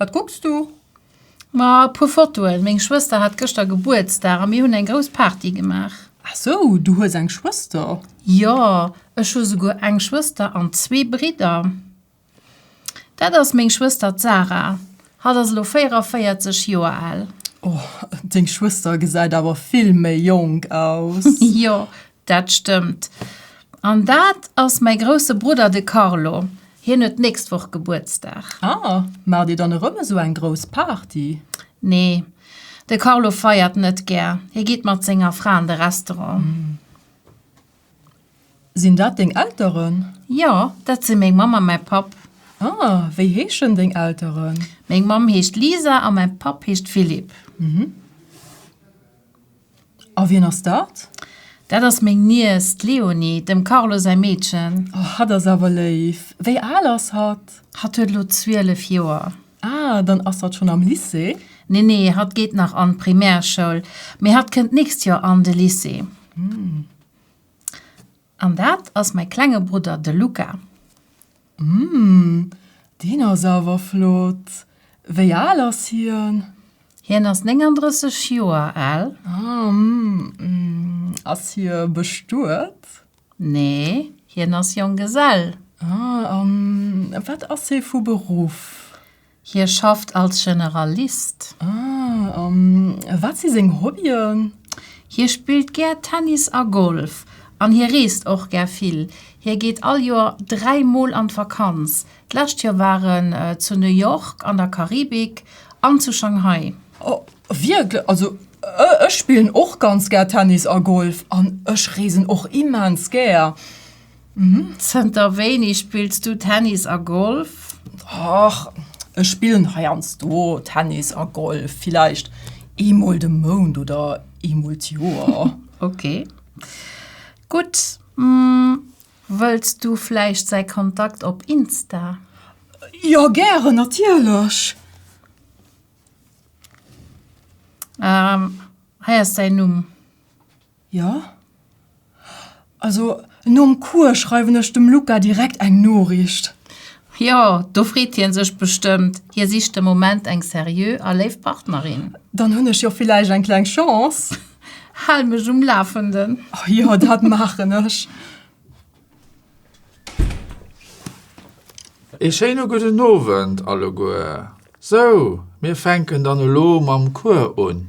Wat kucks du? Ma e puer Fotoen. Meng Schwëster hat gëschter Gebuertsdag a mir hunn eng grouss Party gemaach. Ah sou, du hues eng Schwëster? Jo, ech hu souguer eng Schwëster an zwee Bridder. Dat ass meng Schwëster, d'Sara. Hatt ass elo 44 Joer al. Oh, deng Schwëster gesäit awer vill méi jonk aus. Jo, Dat stëmmt. An dat ass mäi grousse Brudder, de Carlo. Hien huet d'nächst Woch Gebuertsdag. Ah, maacht Dir dann erëm esou eng grouss Party? Nee, de Carlo feiert net gär. Hie geet mat senger Fra an de Restaurant. Sinn dat deng Elteren? Jo, dat si meng Mamm a mäi Papp. Ah, wéi heeschen deng Elteren? Meng Mamm heescht Lisa a mäi Papp heescht Philippe. A wien ass dat? Dat ass meng Niess, d'Léonie, dem Carlo säi Meedchen. Oh, hatt ass awer léif. Wéi al ass hatt? Hatt huet elo zwielef Joer. Ah, dann ass hatt schonn am Lycée? Nee, nee, hatt geet nach an d'Primärschoul, mee hatt kënnt d'nächst Joer an de Lycée. An dat ass mäi klenge Brudder, de Luca. Hm, deen ass awer flott. Wéi al ass hien? Hien ass 39 Joer al. Ah, hm. Ass hie bestuet? Nee, hien ass Jonggesell. Ah, a wat ass hie vu Beruff? Hie schafft als Generalist. Ah, a wat si seng Hobbyen? Hie spillt gär Tennis a Golf. An hie reest och gär vill. Hie geet all Joer dräi Mol an d'Vakanz. D'lescht Joer war en zu New York an der Karibik an zu Shanghai. Oh, wierklech? Also ech spillen och ganz gär Tennis a Golf an ech reesen och immens gär. Zënter wéini spills du Tennis a Golf? Ach, ech spillen heiansdo Tennis a Golf, villäicht eemol de Mount oder eemol d'Joer. Ok, gutt. Wëlls du vläicht säi Kontakt op Insta? Jo, gären, natierlech. Hei ass säin Numm. Jo. Also, nom Cours schreiwen ech dem Luca direkt eng Noriicht. Jo, do freet hien sech bestëmmt. Hie sicht de Moment eng seriö a léif Partnerin. Dann hunn ech jo villäicht eng kleng Chance. Hal mech um Lafenden. Jo, dat maachen ech. Ee schéine gudden Owend alleguer. Sou, mir fänken dann elo mam Cours un.